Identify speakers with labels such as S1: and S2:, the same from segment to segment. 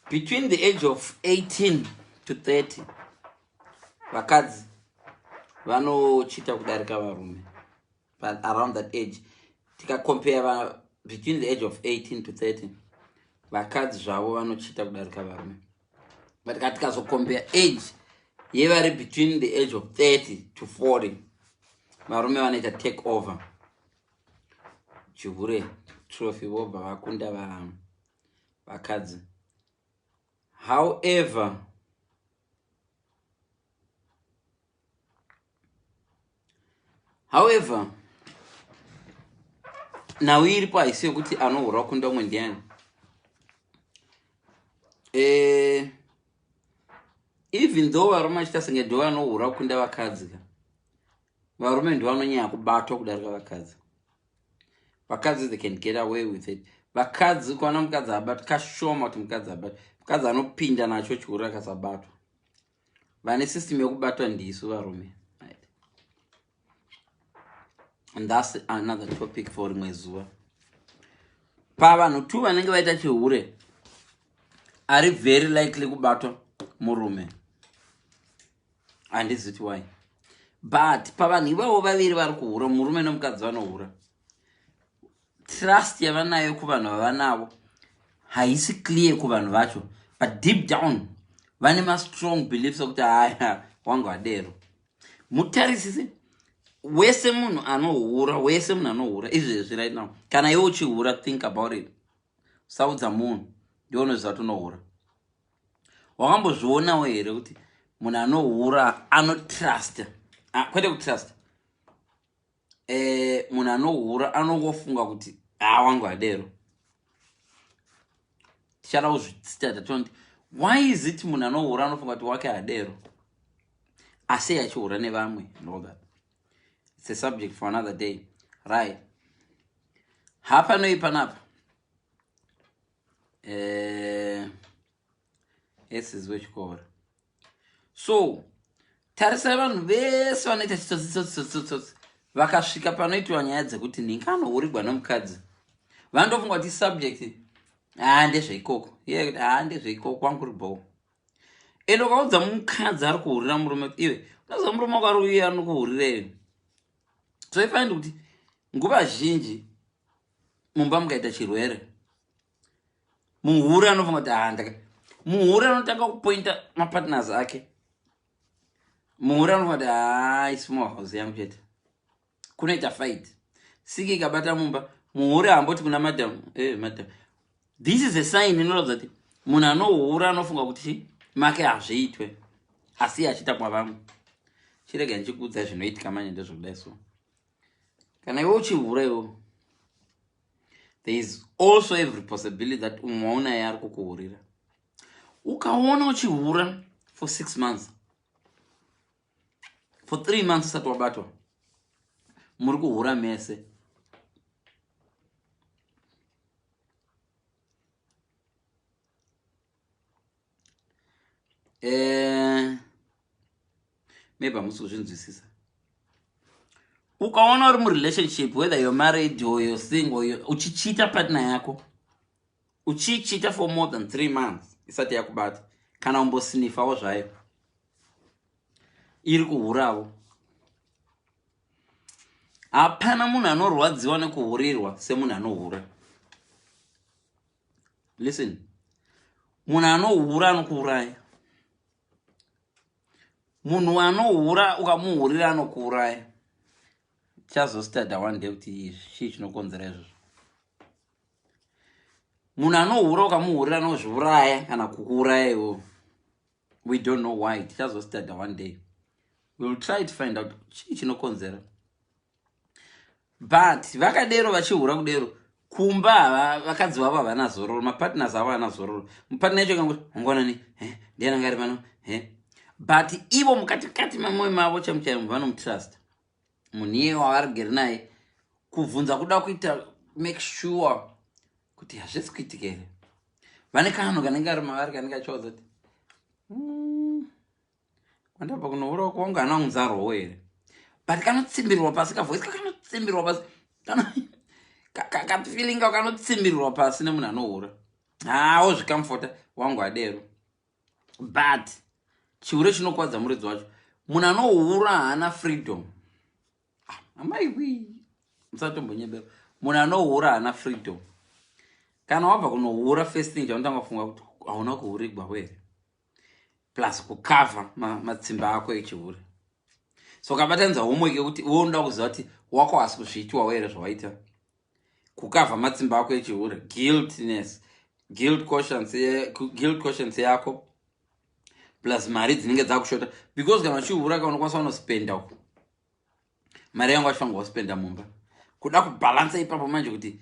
S1: between the age of 18 to 30 vakadzi vanochita kudarika varume but around that age tikacompare va between the age of 18 to 30 vakadzi zvavo vanochita kudarika varume but ka tikazocompare age yevari between the age of 30 to 40 varume vanoita take over chihure trophy vobva vakunda vakadzi however however nhau iripo haisi yokuti anohura kunda umwe ndiani eh, even though varume vachita senge ndo vanohura kunda vakadzi ka varume ndivanonyanya kubatwa kudarika vakadzi vakadzi they can get away with it vakadzi kuana mukadzi abatwa kashoma kuti mukadzi abatwa mukadzi anopinda nacho chikuru akasabatwa vane system yekubatwa ndisu varume right. and thats another topic for rimwe zuva pavanhu two vanenge vaita chihure ari very likely kubatwa murume handizi kuti why but pavanhu ivavo vaviri vari kuhura murume nomukadzi vanohura trust yavanayo kuvanhu vavanavo haisi clear kuvanhu vacho but deep down vane mastrong beliefs okuti haya wangu adero mutarisise wese munhu anohura wese munhu anohura izvezvi right now kana iwe uchihura think about it usaudza munhu ndionoziva kuti unohura wakambozvionawo here kuti munhu anohura anotrust ah, kwete kutrust e, munhu anohura anongofunga kuti haa ah, wangu adero tichada kuzvitsita tatondi why is it munhu anohura anofunga kuti wake adero asi achihura nevamwe ndogat its a subject for another day right hapanoyi panapa eh, esis wechikoro so tarisai vanhu vese vanoita chitsotsi tsotsi tsotsi tsotsi vakasvika panoitiwa nyaya dzekuti nhingi anohurigwa nomukadzi vanotofunga kuti subject haa ah, ndezveikoko iye kuti haa ah, ndezveikoko kwangu ri bho ende ukaudza mukadzi ari kuhurira murume kuti iwe unoza murume wako ari uye anokuhurira iwe so ifanidi kuti nguva zhinji mumba mukaita chirwere muhure anofunga kuti haa ndaka muhure anotanga kupointa mapartners ake muhure anofunga kuti haa isimo house yangu chete kunoita fight siki ikabata mumba muhure hamboti kuna madam eh, madam this is a sign inoratidza kuti munhu anohura anofunga kuti make hazviitwe asi achiita kwavamwe chirega ndichikuudza zvinoitika manyenda zvokudai so kana iwe uchihura iwe there is also every possibility that umwe waunaye ari kukuhurira ukaona uchihura for six months for three months usati wabatwa muri kuhura mese eh, maybe hamusi kuzvinzwisisa ukaona uri murelationship whether you're married or you're single uchichita partner yako uchichita for more than three months isati yakubata kana umbosinifawo zvayo iri kuhuravo hapana munhu anorwadziwa nekuhurirwa semunhu anohura listen munhu anohura anokuuraya munhu anohura ukamuhurira anokuuraya chazostada one day kuti chii chinokonzera izvozvo munhu anohura ukamuhurira anozviuraya kana kukuuraya iwo we don't know why tichazostada one day wewill try to find out chii chinokonzera but vakadero vachihura kudero kumba hava vakadzi vavo havana zororo mapartners avo havana zororo mupartner yacho kangoti ungonani eh, ndiani anga ari pano eh. but ivo mukatikati mamoyo mavo chamuchairo vanomutrusta munhu iye wavari geri naye kubvunza kuda kuita make sure kuti hazvisi kuitika here vane kanhu kanenge ari mavari kanenge achiwaza kuti mm. Kwandabva kunohura uko wangu hana kunzarwawo here. But kanotsimbirwa pasi ka voice kakanotsimbirwa pasi. Kana ka feeling ka kanotsimbirwa pasi nemunhu anohura. Haa wozvikamfota wangu adero. But chihure chinokwadza muridzi wacho. Munhu anohura hana freedom. Ah, amai wii. Musatombonyebera. Munhu anohura hana freedom. Kana wabva kunohura first thing chaunotanga kufunga kuti hauna kuhurigwa here. plus kukavha matsimba ako echihure so ukabatanidza homework yekuti iwe unoda kuziva kuti wako hasi kuzviitiwawo here zvawaita kukavha matsimba ako echihure guiltness guilt conscience guilt conscience yako plus mari dzinenge dzakushota because kana uchihure ka unokwanisa unospenda uku mari yangu achifanga waspenda mumba kuda kubhalansa ipapo manje kuti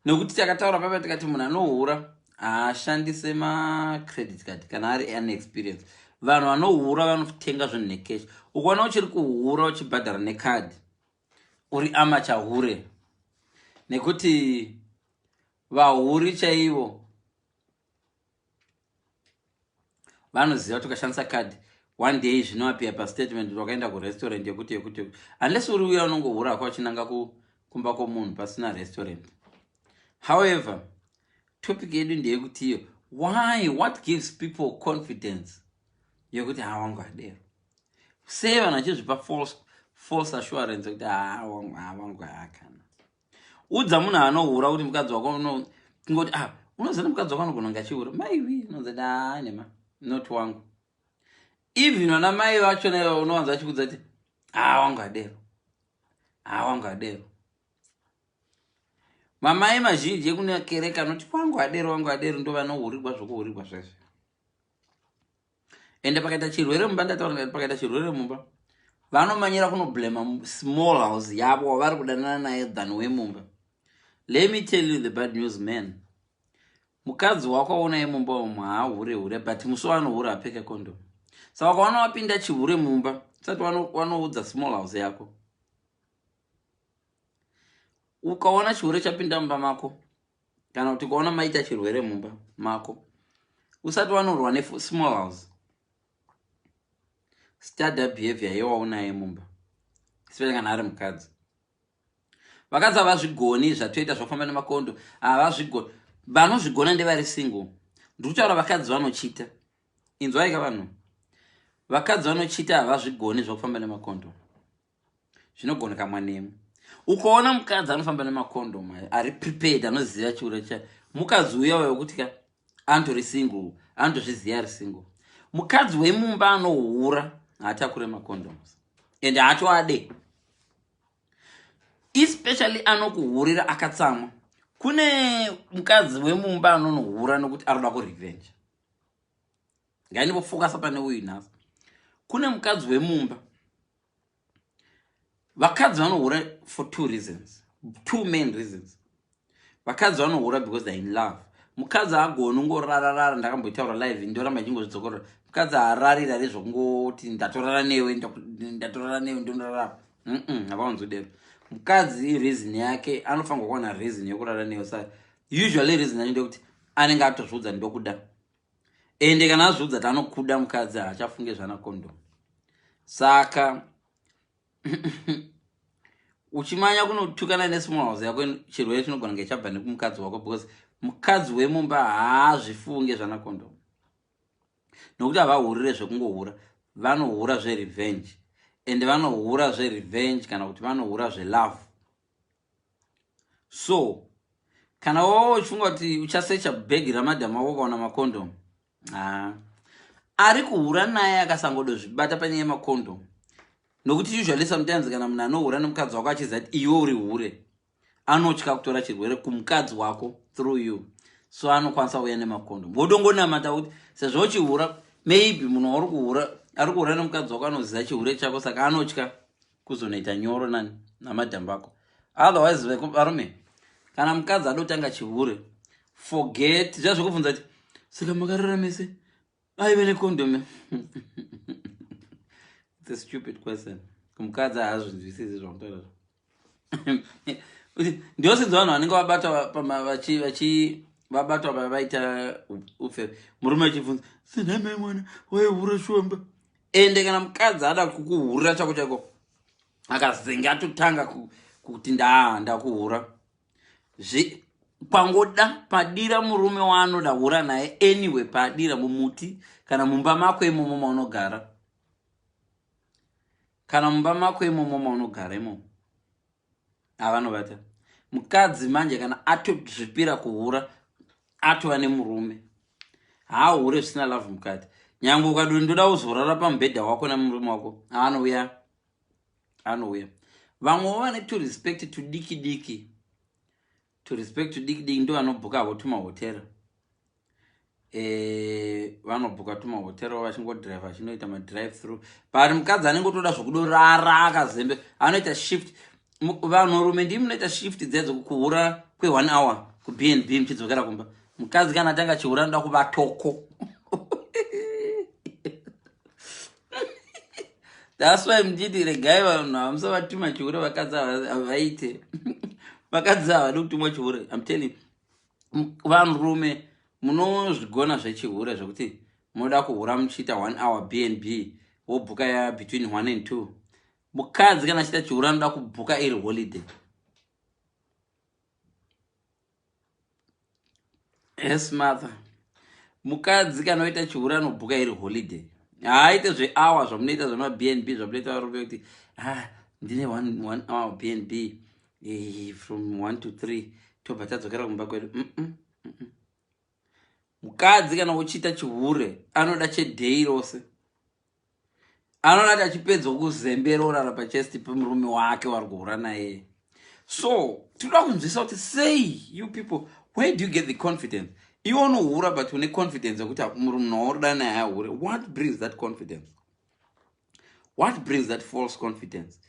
S1: nekuti takataura papa tikati munhu anohura haashandise macredit card kana ari an experience vanhu vanohura vanotenga zvinhu necash ukaona uchiri kuhura uchibhadhara necard uri amachahure nekuti vahuri chaivo vanoziva kuti ukashandisa card one day zvinoapia pastatement kuti wakaenda kurestaurant yekuti yekuti unless uri uya unongohura waka uchinanga kumba kwomunhu pasina restaurant however topic yedu ndeyekuti iyo why what gives people confidence yekuti ha wangu adero sei vanhu vachizvipa false assurance yekuti ha wangu ha wangu haakana udza munhu anohura kuti mukadzi wako kungoti ah unoziva mukadzi wako anogona kunge achiura maiwi unonzi kuti haa nema not wangu even vana mai vachona iva unowanza vachikudza kuti haa wangu adero haa wangu adero mamai mazhinji ekunekereka anoti wangu adero wangu adero ndovanohurigwa zvokuhurigwa zvese ende pakaita chirwere mumba ndataura pakaita chirwere mumba vanomanyira kunoblema small house yavo wavari kudanana naye than wemumba let me tell you the bad news man mukadzi wako aunaye mumba umu haahure hure but musi waanohure apfeke condom saka ukaona wapinda chihure mumba usati wanoudza small house yako ukaona chihure chapinda mumba mako kana kuti ukaona maita chirwere mumba mako usati wanorwa nesmall house study behavior yewaunaye mumba especially kana ari mukadzi vakadzi havazvigoni zvatoita zvafamba nemakondo havazvigoni vanozvigona ndevari single ndiri kutaura vakadzi vanochita inzwaika vanhu vakadzi vanochita havazvigoni zvakufamba nemakondo zvinogoneka mwanemu ukaona mukadzi anofamba nemacondom ayo ari prepared anoziva chiura cha mukadzi uya uya wekuti ka antori single anotozviziva ari single mukadzi wemumba anohura haatakure macondoms and haatoade especially anokuhurira akatsamwa kune mukadzi wemumba anonohura nokuti anoda kurevenge ngainipofokasa pane uyu nhasi kune mukadzi wemumba vakadzi vanohura for two reasons two main reasons vakadzi vanohura because they're in love mukadzi agoni ungorararara ndakamboitaura live ndoramba ichingozvidzokorora mukadzi haararira re zvokungoti ndatorara newe ndatorara newe ndondarara havaonzodero mukadzi reason yake anofanirwa kuwana reason yokurara newe sa usually reason yacho ndekuti anenge atozviudza ndokuda ende kana azviudza ti anokuda mukadzi haachafunge zvana condom saka uchimanya kunotukana nesmall house yako chirwere chinogona kunge chabva nekumukadzi wako because mukadzi wemumba haazvifunge zvana condom nokuti havahurire zvekungohura vanohura zverevenge ende vanohura zverevenge kana kuti vanohura zvelove so kana wava uchifunga kuti uchasecha bhegi ramadham wako ukaona makondom haa ari kuhura naye akasangodozvibata panyaya yemakondom nokuti usually sometimes kana munhu anohura nemukadzi wako achiziva kuti iwe uri hure anotya kutora chirwere kumukadzi wako through you so anokwanisa kuuya nemakondom wodongonamata kuti sezvo uchihura maybe munhu wauri kuhura ari kuhura nemukadzi wako anoziva chihure chako saka anotya kuzonoita nyoro nani namadam vako otherwise varume kana mukadzi adotanga chihure forget zviya zvekubvunza ti saka makarara mese aive nekondome its a stupid question mukadzi haazvinzwisisi zvamutorera ndiosinzi vanhu vanenge vabata vabatwa vavaita upfere murume achibvunza sinaimai mwana waihure shumba ende kana mukadzi ada kukuhurira chako chaiko akazenge atotanga kuti ndaa ndakuhura pangoda padira murume waanoda hura naye anyway padira mumuti kana mumba mako imomo maunogara kana mumba mako imomo maunogara imomo avanobata mukadzi manje kana atozvipira kuhura atova nemurume haahure zvisina love mukadzi nyange ukadi ndoda uzorara pamubhedha wako nemurume wako anouya anouya vamwewo vane to respect tudiki diki to respect to diki diki ndo anobhuka havo tuma hotel eh vanobhuka tuma hotel vachingo drive vachinoita ma drive through but mukadzi anenge otoda zvekudorara akazembe anoita shift vanhu rume ndimi munoita shift dzedzo kuhura kwe one hour ku bnb muchidzokera kumba mukadzi kana atanga chihura anoda kuvatoko thats why mchiti regai vanhu hamusavatuma chihure vakadzi havaite vakadzi havadi kutumwa chihure im telling vanhurume munozvigona zvechihure zvekuti munoda kuhura muchiita one hour b and b wobhuka ya between one and two mukadzi kana achiita chihure anoda kubhuka iri holiday yes mother mukadzi kana oita chihure anobhuka iri holiday haaite zveawa zvamunoita zvemabnb zvamunoita varume kuti ha ah, ndine one, one hour bnb eh, from one to three tobva tadzokera kumba kwedu mm -mm, mm -mm. mukadzi kana uchiita chihure anoda cheday rose anoona kuti achipedzwa kuzembera orara pachest pemurume wake wari kuhura naye so tinoda kunzwisa kuti sei you people where do you get the confidence iwe unohura but une confidence yekuti murume waurida naye ahure what brings that confidence what brings that false confidence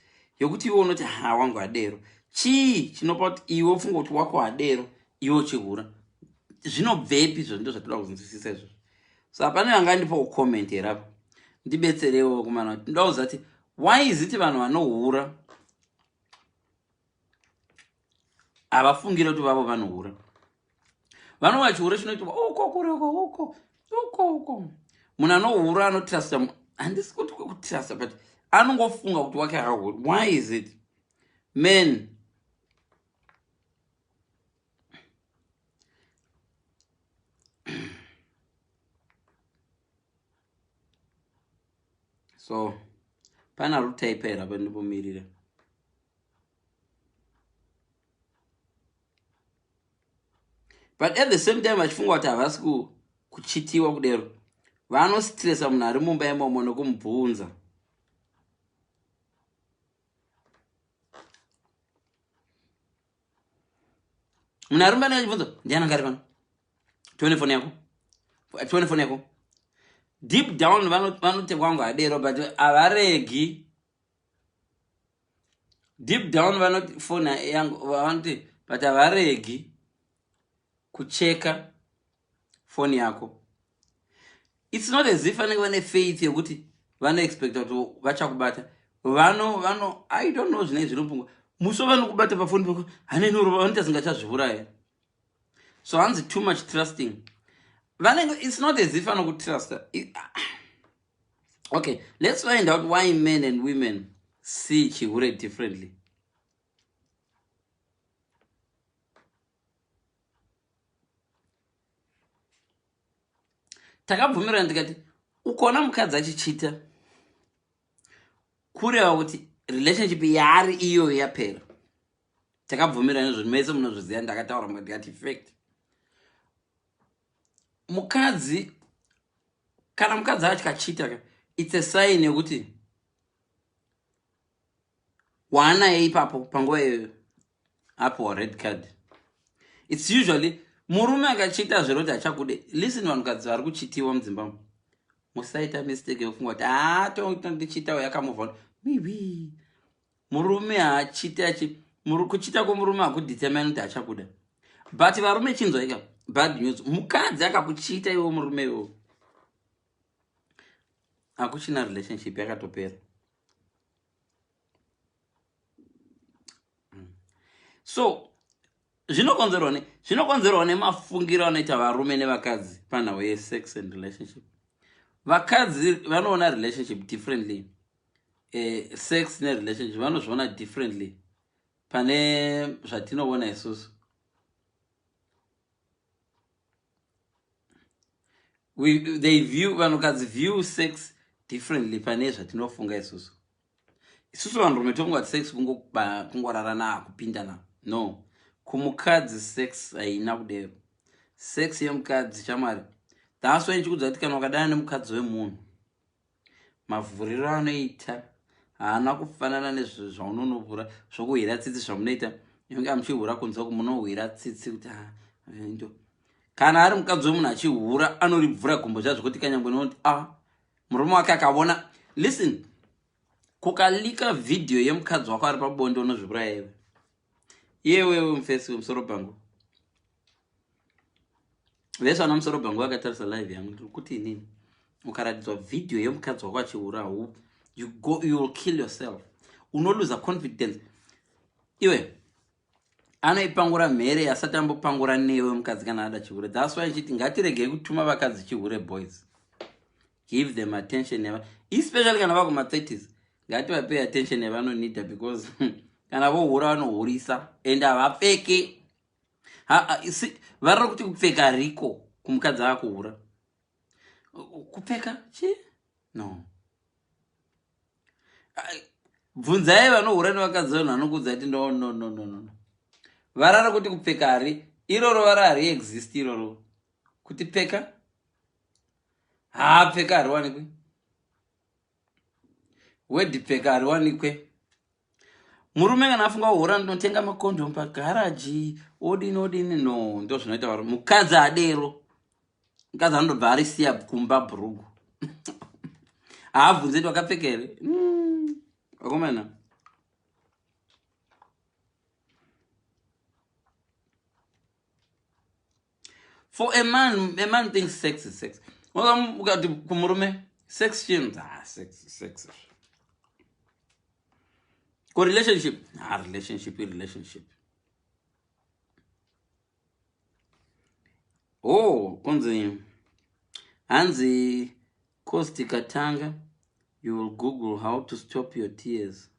S1: yekuti iwe unoti ha wangu adero chii chinopa kuti iwe ufunga kuti wako adero iwe uchihura zvinobvepi izvo ndo zvatoda kunzwisisa izvozvo so hapana yanga andipa kucomment here apa ndibetserewo kumana kuti ndauza kuti why is it vanhu vanohura havafungire kuti vavo vanohura vano vachihura chinoitwa uko kureko uko uko uko munhu anohura anotrasta handisi kuti kwekutrasta but anongofunga kuti wake hahuri why is it man so pana rutaipa here apa ndipomirira but at the same time vachifunga kuti havasi kuchitiwa kudero vanositiresa munhu ari mumba imomo nokumubvunza Muna arumba na chibvunzo ndiana ngari pano. Tuone phone yako. Tuone phone yako. Deep down vano vano te kwangu adero but avaregi. Deep down vano phone yangu vano te but avaregi kucheka phone yako. its not as if vanenge vane faith yekuti vanoexpecta kuti vachakubata vano vano i don't know zvinei zvinopungwa musi wavanokubata pafoni pako hanenoroba vanoita zingachazvivuraye so hanzi too much trusting vanenge its not as if anokutrusta okay let's find out why men and women see chihure differently takabvumirana tikati ukaona mukadzi achichita kureva kuti relationship yaari iyoyo yapera takabvumirana izvozvi mese munozviziva ndakataura mukati fact mukadzi kana mukadzi acho kachita ka its a sign yekuti waanaye ipapo panguva iyoyo apiwa red card its usually murume akachiita zveroti achakude listen vanhukadzi vari kuchitiwa mudzimba musaita mistake yokufunga kuti haa tondichiitawo yakamuvona maybe murume haachite achi kuchita kwemurume hakudetermine kuti achakuda but varume chinzwaika bad news mukadzi akakuchita iwo murume iwo hakuchina relationship yakatopera mm. so zvinokonzerwa ne zvinokonzerwa nemafungiro anoita varume nevakadzi panhau yesex and relationship vakadzi vanoona relationship differently eh, sex nerelationship vanozviona differently pane zvatinoona isusu We, they view vanhukadzi view sex differently pane zvatinofunga isusu isusu vanhurume tongoat sex kungorarana kupindana no kumukadzi sex haina kudero sex yemukadzi chamwari thats why ndichikudza kuti kana wakadana nemukadzi wemunhu mavhuriro anoita haana kufanana nezvo zvaunonovhura zvokuhwira tsitsi zvamunoita inenge amuchihura kunzwa kumunohwira tsitsi kuti ah, ndo kana ari mukadzi wemunhu achihura anoribvura gumbo zva zvekuti kanyangwe noti a ah, murume wake akavona listen kukalika vhidhiyo yemukadzi wako ari pabonde unozvibura yewe yewewe mufesi wemusoro pangu vese vana musoro bhangu vakatarisa live yangu ndiri kuti inini ukaratidzwa vhidhiyo yemukadzi wako achiura hu you go you will kill yourself unoluza confidence iwe anoipangura mhere asati ambopangura newe mukadzi kana ada chihure thats why ichiti ngatiregei kutuma vakadzi chihure boys give them attention yava especially kana vakuma 30s ngativapei attention yavanonida because kana vohura vanohurisa and havapfeke varira kuti kupfeka riko kumukadzi akuhura kupfeka chi no bvunzai vanohura nevakadzi vanhu vanokuudza kuti no no no no no varara kuti kupfeka hari iroro vara hari exist iroro kuti pfeka haa pfeka hariwanikwi wedipfeka hariwanikwe murume kana afunga kuhora ndinotenga makondom pagaraji odini odini no ndo zvinoita vari mukadzi adero mukadzi anondobva arisiya kumba bhurugu haabvunze ti wakapfeka here hmm, akomana mm. for a man a man thinks sex is sex ukati kumurume sex chinhu ah, sex sex ko relationship ah, relationship relationship oh kunzi hanzi cost ikatanga you will google how to stop your tears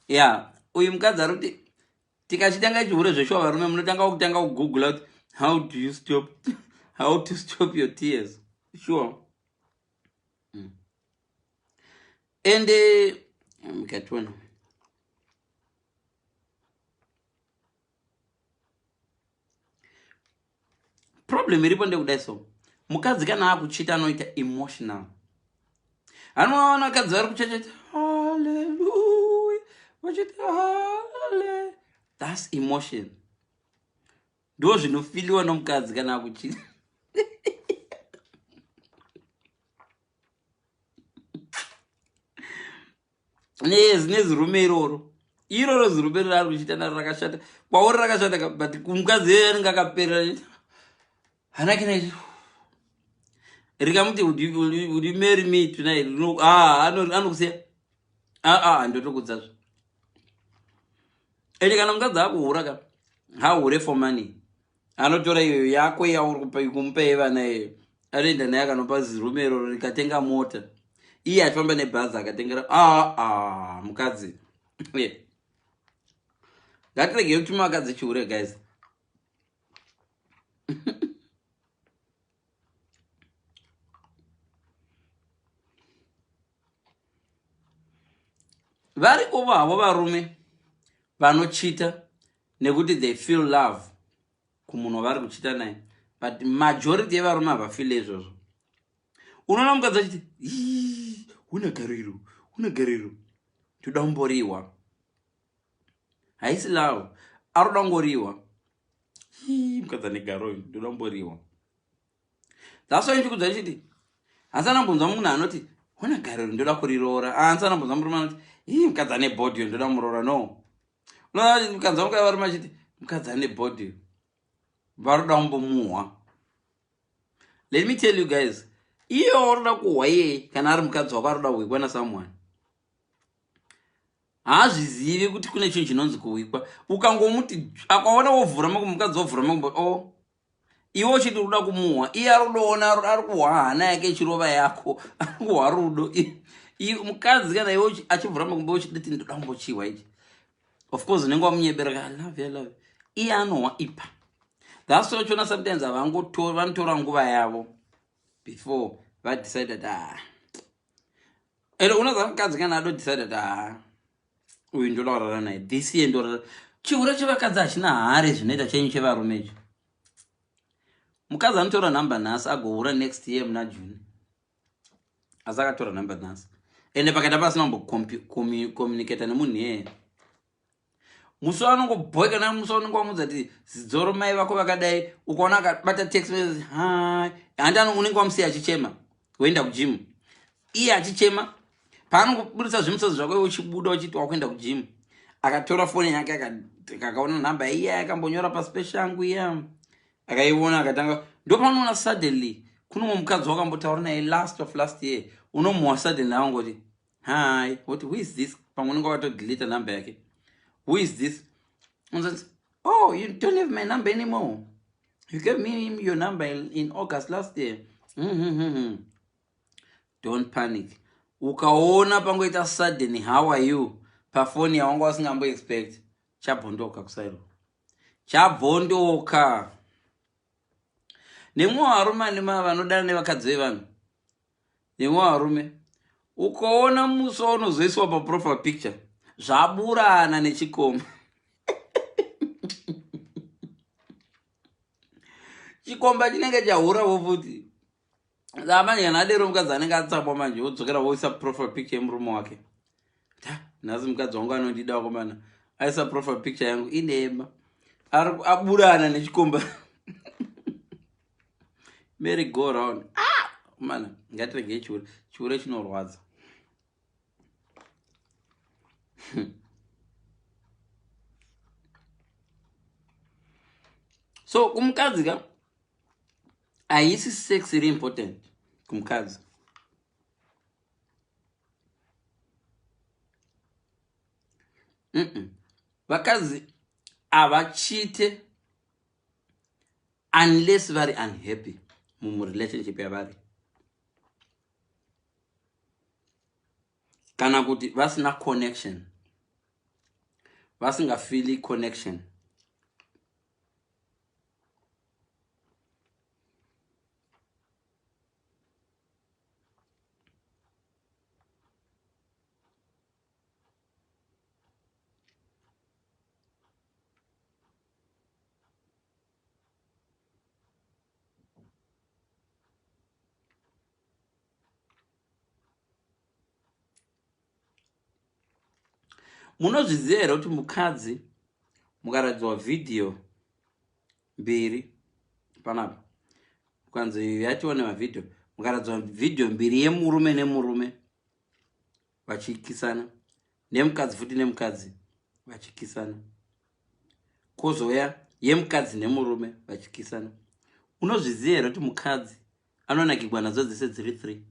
S1: ya uyu mukadzi ari kuti tikachitanga chihure zveshuwa varume munotanga kutanga kugoogla kuti how do you stop how to stop your tears sure mm. ende eh, mukationa mm, problem iripo ndekudai so mukadzi kana akuchita anoita emotional anovaona vakadzi vari kuchacheta haleluya vachiti hale thats emotion ndo zvinofiliwa nomukadzi kana akuchita nezirume iroro iroro zirume rari kuchiita naro rakashata kwauri rakashata but kumukadzi iyoyo anenge akaperera hanake na rikamuti udi mary me tonight ah, anokusiya aa ah, ah, ndotokudzazve ende kana mukadzi akuhura ka hahure for money anotora iyo yako yaurikumupa yevana iyoyo anoenda naye akanopa zirume iroro rikatenga mota iye achifamba nebhazi akatengera aa ah, ah, mukadzi ngatirege kuti makadzi chihure guys varikovo havo varume vanochita nekuti they feel love kumunhu wavari kuchita naye but majority yevarume havafile izvozvo unoona mukadzi achiti huna gariro huna gariro toda kumboriwa haisi love aroda kungoriwa mukadzi ane garo uyu ndoda kumboriwa that's why ndikudza ndichiti hansi anambonzwa munhu anoti huna gariro ndoda kuriroora hansi anambonzwa murume anoti ii mukadzi ane body yo ndoda muroora no unokanzwa mukadzi varume achiti mukadzi ane body varoda kumbomuhwa let me tell you guys iye waroda kuhwa iyeye kana ari mukadzi wako aroda kuhwikwa nasomeone haazvizivi kuti kune chinhu chinonzi kuhwikwa ukangomuti akaona wovhura makumbo mukadzi wovhura makumbo o oh, iwe uchiti uruda kumuhwa iye arudoona ari kuhwa hana yake ichirova yako ari kuhwa rudo mukadzi kana iwe achivhura makumba uchiditi ndoda kumbochihwa ichi of course unenge wamunyebera ka love love iye anohwa ipa thats why uchiona sometimes avangotora vanotora nguva yavo before vadecide kuti haa ah. ero unoza mukadzi kana adodecide kuti haa ah. uyu ndolaurara naye this year ndorara chihure chevakadzi hachina hari zvinoita chenyu chevarume icho mukadzi anotora number nhasi agohura next year muna june asi akatora number nhasi ende pakaita pasina kumbocommunicata nemunhu iyeye musi wanongobhoeka na musi wanonge wamudza ti zidzoro mai vako vakadai ukaona akabata text message hai handi unenge wamusiya achichema woenda kujimu iye achichema paanokuburitsa zvimutsotso zvako uchibuda uchiti wakuenda kujimu akatora foni yake akaona nhamba iya akambonyora pasi peshe yangu iya akaiona akatanga ndopanoona suddenly kune mumwe mukadzi wakambotaura naye last of last year unomuwa suddenly awangoti hi woti who is this pamwe unenge wakatodeleta nhamba yake who is this unzanzi Oh, you don't have my number anymore. You gave me your number in August last year. Mm -hmm. hmm, hmm. Don't panic. Ukaona pangoita sudden how are you pafoni yawanga wasingambo expect chabvondoka kusairo chabvondoka nemwe varume anema vanodana nevakadzi vevanhu Nemwe varume ukaona musi waunozoiswa paprofile picture zvaburana nechikoma chikomba chinenge chahura vo futi amanje kana adero mukadzi anenge atsamwa manje wodzokera woisa profile picture yemurume wake ta nhasi mukadzi wangu anondida wakomana aisa profile picture yangu inema aburana nechikomba Mary go round. Ah! Mana, ngatirege chihure. Chihure chinorwadza. so kumukadzi ka haisi sex iri important kumukadzi vakadzi havachite mm -mm. unless vari unhappy mumurelationship yavari kana kuti vasina connection vasingafeeli connection munozviziva here kuti mukadzi mukaratidzwa vhidhiyo mbiri panapa ukanzi yatione mavhidhiyo mukaratidzwa vhidhiyo mbiri yemurume nemurume vachikisana nemukadzi futi nemukadzi vachikisana kozouya yemukadzi nemurume vachikisana unozviziva here kuti mukadzi anonakigwa nadzo dzese dziri three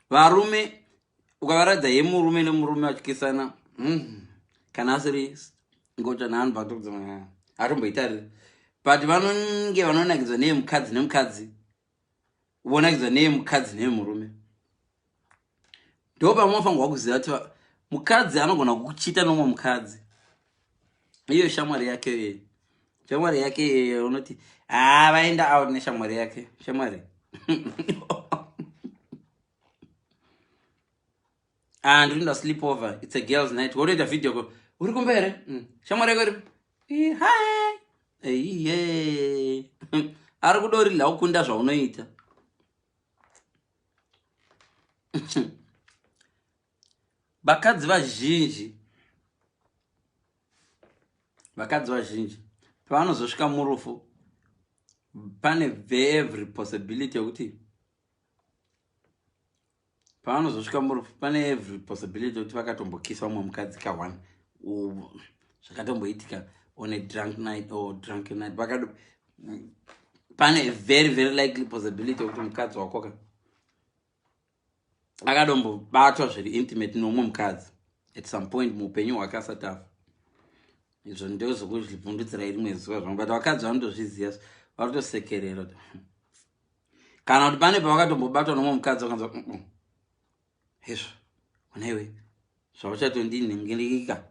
S1: varume ukavaradza yemurume nemurume vachikisana mm, kana asiri ngocha naanhu atomboitarira but vanonge vanonakidzwa neyemukadzi nemukadzi vonakidzwa neye mukadzi neye murume ndo pamafangwa kuziva kuti mukadzi anogona kuchita nomwe mukadzi iyo shamwari yake yeye shamwari yake yeye unoti haa ah, vaenda out neshamwari yake shamwari ah ndinoda sleep over it's a girls night wotoita video ko uri kumba here mm. shamwari yako iripo iye ari kuda uri laukunda zvaunoita vakadzi vazhinji vakadzi vazhinji pavanozosvika murufu pane every possibility yekuti pavanozosvika murufu pane every possibility yokuti vakatombokisa vamwe mukadzi ka one zvakatomboitika on a drunk night or drunk night vakado pane a very very likely possibility yokuti mukadzi wakoka akadombobatwa zviri intimate nomwe mukadzi at some point muupenyu hwake asatafa izvo ndozvokuzvibvundutsira iri mwe zuva zvamwe but vakadzi vanotozviziva varotosekerera kana kuti pane pavakatombobatwa nomwe mukadzi vakanzwa mm, mm. hezvo unaiwe zvauchatondinhingirika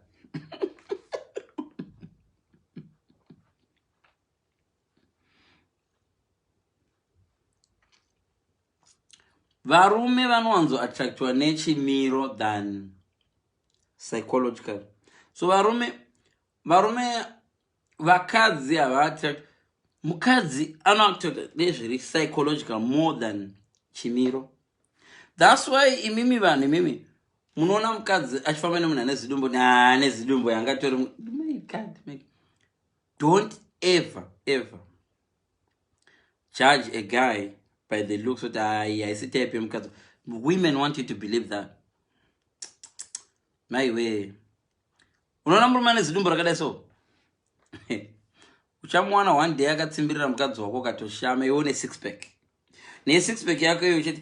S1: varume vanowanzo attractiwa nechimiro than psychological so varume varume vakadzi havaattract mukadzi anoattract nezviri psychological more than chimiro thats why imimi vanhu imimi munoona mukadzi achifamba nemunhu ane zidumbu ane zidumbu yangatori don't ever ever judge a guy by the looks kuti ayi haisi type yemukadzi women want you to believe that maiwee unoona murume ane zidumbu rakadai so uchamuwana one day akatsimbirira mukadzi wako ukatoshama iwe une six pack nesix pack yako iyo uchiti